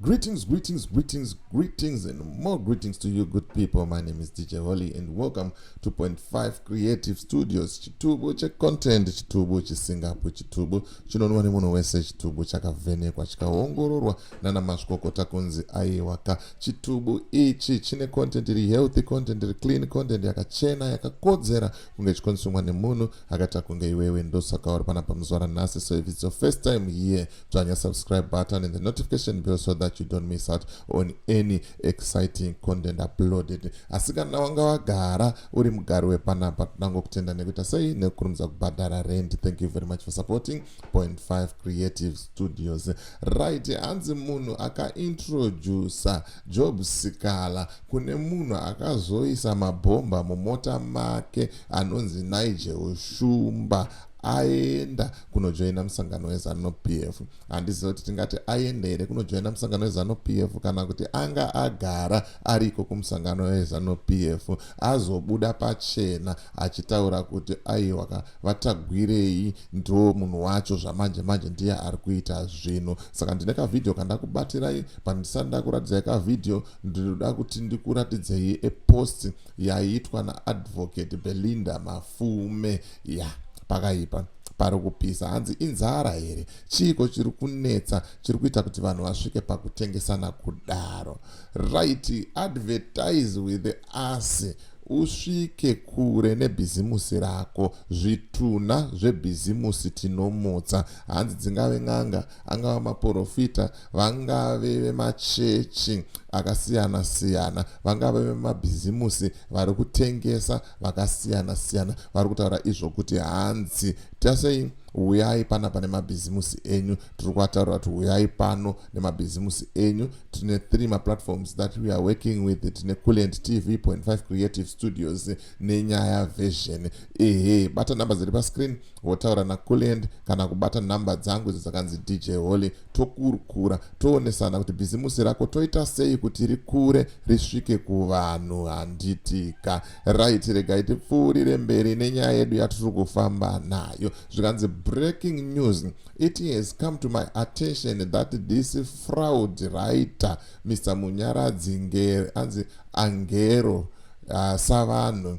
Greetings, greetings, greetings, greetings, and more greetings to you, good people. My name is DJ Holly, and welcome to Point Five Creative Studios. Chitubu che content, chitubu che Singapore, chitubu chinonwa ne munhu wese, chitubu chakavhenekwa chikaongororwa nana mazvikokota kunzi aiwaka. Chitubu ichi chine content iri healthy, content iri clean, content yakachena, yakakodzera kunge chikonsumwa nemunhu akaita kunge iwewe ndosaka uri panapa muzuva ranhasi so if it's your first time here dzvanya subscribe button and the notification bell so that you don't miss out on any exciting content uploaded asi kana wanga wagara uri mugari wepanapa tinango kutenda nekuita sei nekukurumidza kubhadhara rent thank you very much for supporting point 5 creative studios right hanzi munhu akaintroducer job sikala Kune munhu akazoisa mabhomba mumota make anonzi Nigel Shumba aenda kunojoina musangano wezanu pf handiziva kuti tingati aenda here kunojoina musangano wezanu pf kana kuti anga agara ariko kumusangano wezanu pf azobuda pachena achitaura kuti aiwaka vatagwirei ndo munhu wacho zvamanje manje ndiye ari kuita zvinhu saka ndine kavhidhiyo kandakubatirai pandisati ndakuratidzai kavhidhiyo ndinoda kuti ndikuratidzei epost yaiitwa naadvocate belinda mafume ya yeah, pakaipa pari kupisa hanzi inzara here chiiko chiri kunetsa chiri kuita kuti vanhu vasvike pakutengesana kudaro right advertise with us usvike kure nebhizimusi rako zvitunha zvebhizimusi tinomutsa hanzi dzingave n'anga angava maporofita vangave vemachechi akasiyana siyana vangave vemabhizimusi vari kutengesa vakasiyana siyana vari kutaura izvo kuti hanzi tasei huyai pana pane mabhizimusi enyu tiri kuataura kuti huyai pano nemabhizimusi enyu tine three maplatforms that we are working with tine culent tv 5 creative studios nenyaya version ehe bata number dziri pascreen wotaura nakulend kana kubata nhamba dzangu idzo dzakanzi dj holy tokurukura toonesana kuti bhizimusi rako toita sei kuti rikure risvike kuvanhu handitika right regai tipfuurire mberi nenyaya yedu yatiri kufamba nayo zvikanzi breaking news it has come to my attention that this fraud writer mr munyaradzi anzi angero uh, savanhu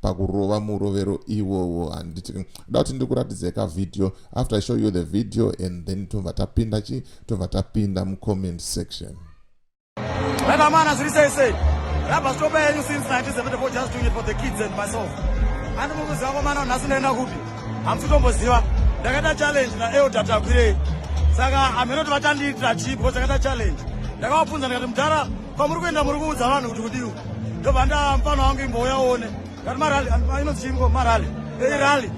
pakurova murovero iwowo handiti da kuti ndikuratidzai kavhidhiyo after i show you the video and then tobva tapinda chii tobva tapinda mucomment section rakamana zviri sei sei rabva zvitoba yenyu since 1974 just doing it for the kids and myself ani mukuziva kwamana nhasi ndaenda kupi hamusi tomboziva ndakaita challenge naelda takwirei saka hameno kuti vachandiitira chii because ndakaita challenge ndakavabvunza ndikati mudhara kwamuri kuenda muri kuudza vanhu kuti kudii ndobva ndamfana wangu imbouya uone kati marali inonzi chiiko marali irali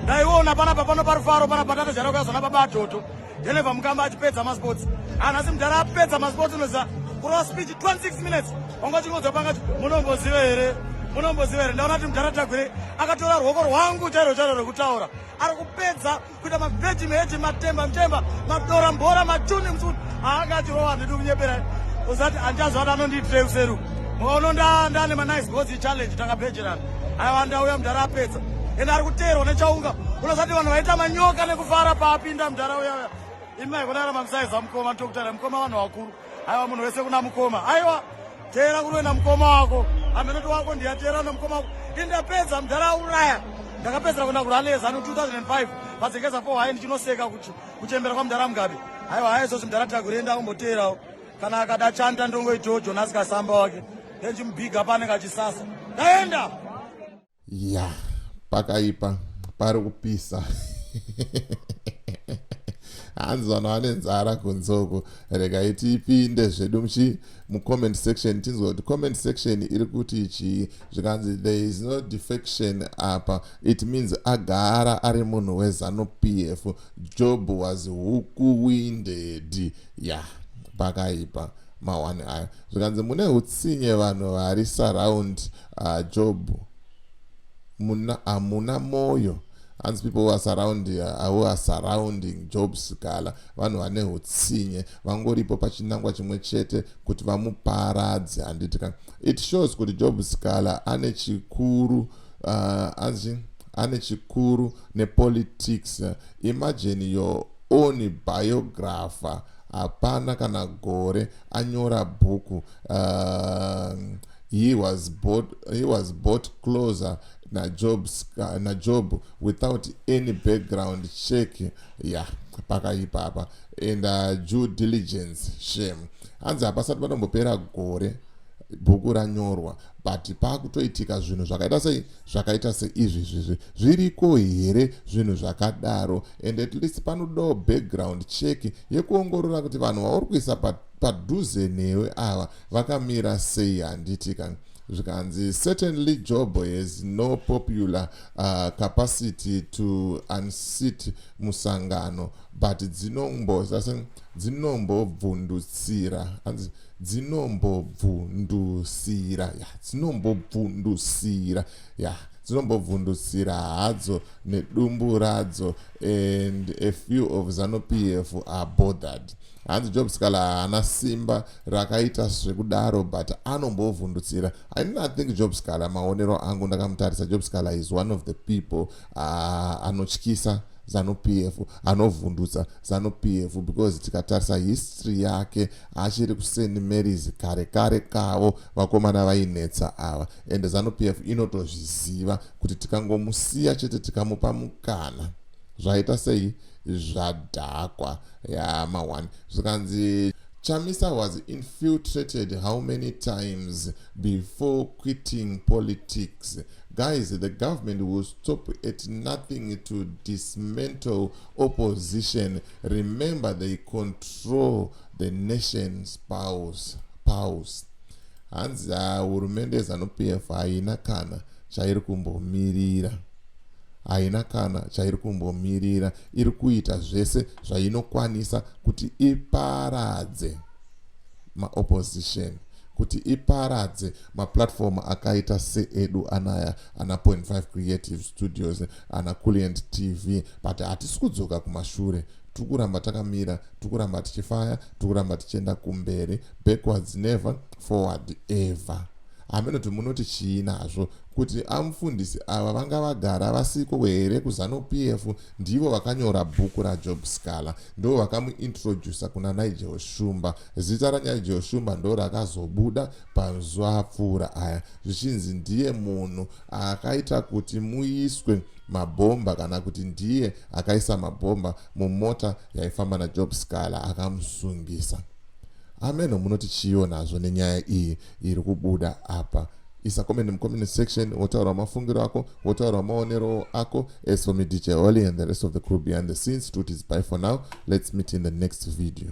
ndaiona panapa pano parufaro pana patata jara kuyazona baba atoto dhelevha mukamba achipedza masports anhasi mudhara apedza masports unoziva kurova speech 26 minutes wanga uchingodzwa panga munomboziva here munomboziva here ndaona kuti mudhara tagwire akatora ruoko rwangu chairo chairo rekutaura ari kupedza kuita mabheti meheti matemba mtemba madora mbora matuni msuni haanga achirowa handidi kunyepera usati handichazi vati anondiitirei kuseru mukaono ndane manice gozi challenge takabhejerana aiwa ndauya mudhara apedza ende ari kuteerwa nechaunga unosati vanhu vaita manyoka nekufara paapinda mudhara uyauya imi maikonara mamsaiza mukoma ndokutara mukoma vanhu vakuru aiwa munhu wese kuna mukoma aiwa teera kunoenda mukoma wako hamenoto wako ndiyateera nomukoma wako indapedza mudhara auraya ndakapedzera kuenda kuralezano 2005 padzekeza fo hayi ndichinoseka kuchembera kwamudhara mugabe haiwa hayi izvozvi mudhara tagurenda kumboteerawo kana akada chanta ndongoitawo jonasi kasamba wake then chimubiga paanenge achisasa ndaenda ya pakaipa pari kupisa hanzi vanhu vane nzara kunzoko regai tipinde zvedu muchi mucomment section tinzwa kuti comment section iri kuti chii zvikanzi there is no defection apa it means agara ari munhu wezanu p f job was huku winded ya yeah, pakaipa mawani ayo zvikanzi mune utsinye vanhu vari surround Ah Job muna hamuna moyo hanzi people who are surrounding, uh, who are surrounding job sikala vanhu vane utsinye vangoripo pachinangwa chimwe chete kuti vamuparadze handiti ka it shows kuti job sikala ane chikuru uh, anzi ane chikuru nepolitics imagine your own biographer hapana kana gore anyora bhuku uh, He was bought, he was bought closer naJob, uh, naJob without any background check ya yeah, pakaipa apa and uh, due diligence shame hanzi hapasati panombopera gore bhuku ranyorwa but paakutoitika zvinhu zvakaita sei zvakaita seizvizvizvi zviriko here zvinhu zvakadaro and at least panodawo background check yekuongorora kuti vanhu vauri kuisa padhuze newe ava vakamira sei handiti ka zvikanzi certainly job has no popular uh, capacity to unseat musangano but dzinombozase dzinombobvundutsira anzi dzinombobvundusira ya dzinombobvundusira ya dzinombobvundusira hadzo nedumbu radzo and a few of zanupf are bothered hanzi job scala haana simba rakaita zvekudaro but anombovhundutsira i did not think job scala maonero angu ndakamutarisa job scala is one of the people uh, anotyisa zanu p f anovhundutsa zanu p f because tikatarisa history yake achiri kuseni marys kare kare kavo vakomana vainetsa ava ende zanu p f inotozviziva kuti tikangomusiya chete tikamupa mukana Zvaita sei zvadhakwa yaa ma one zvikanzi Chamisa was infiltrated how many times before quitting politics? Guys, the government will stop at nothing to dismantle opposition. Remember, they control the nation's powers. powers. Hanzi hurumende yeZanu PF haina kana chairi kumbomirira. haina kana chairi kumbomirira iri kuita zvese zvainokwanisa kuti iparadze maopposition kuti iparadze maplatform akaita seedu anaya ana point five creative studios ana culient tv but hatisi kudzoka kumashure tiri kuramba takamira tiri kuramba tichifaya tiri kuramba tichienda kumberi backwards never forward ever hameno kuti munoti chii nazvo kuti amufundisi ava vanga vagara vasiko here kuzanupf ndivo vakanyora bhuku rajob scala ndo vakamuintrodusa kuna nigel shumba zita ranigel shumba ndo rakazobuda pazuva apfuura aya zvichinzi ndiye munhu akaita kuti muiswe mabhomba kana kuti ndiye akaisa mabhomba mumota yaifamba najob scala akamusungisa ameno munoti chiyo nazvo nenyaya iyi iri kubuda apa isa comment in comment section wotaura mafungiro ako wotaura maonero ako as for me dj holy and the rest of the crew behind the scenes tut is by for now let's meet in the next video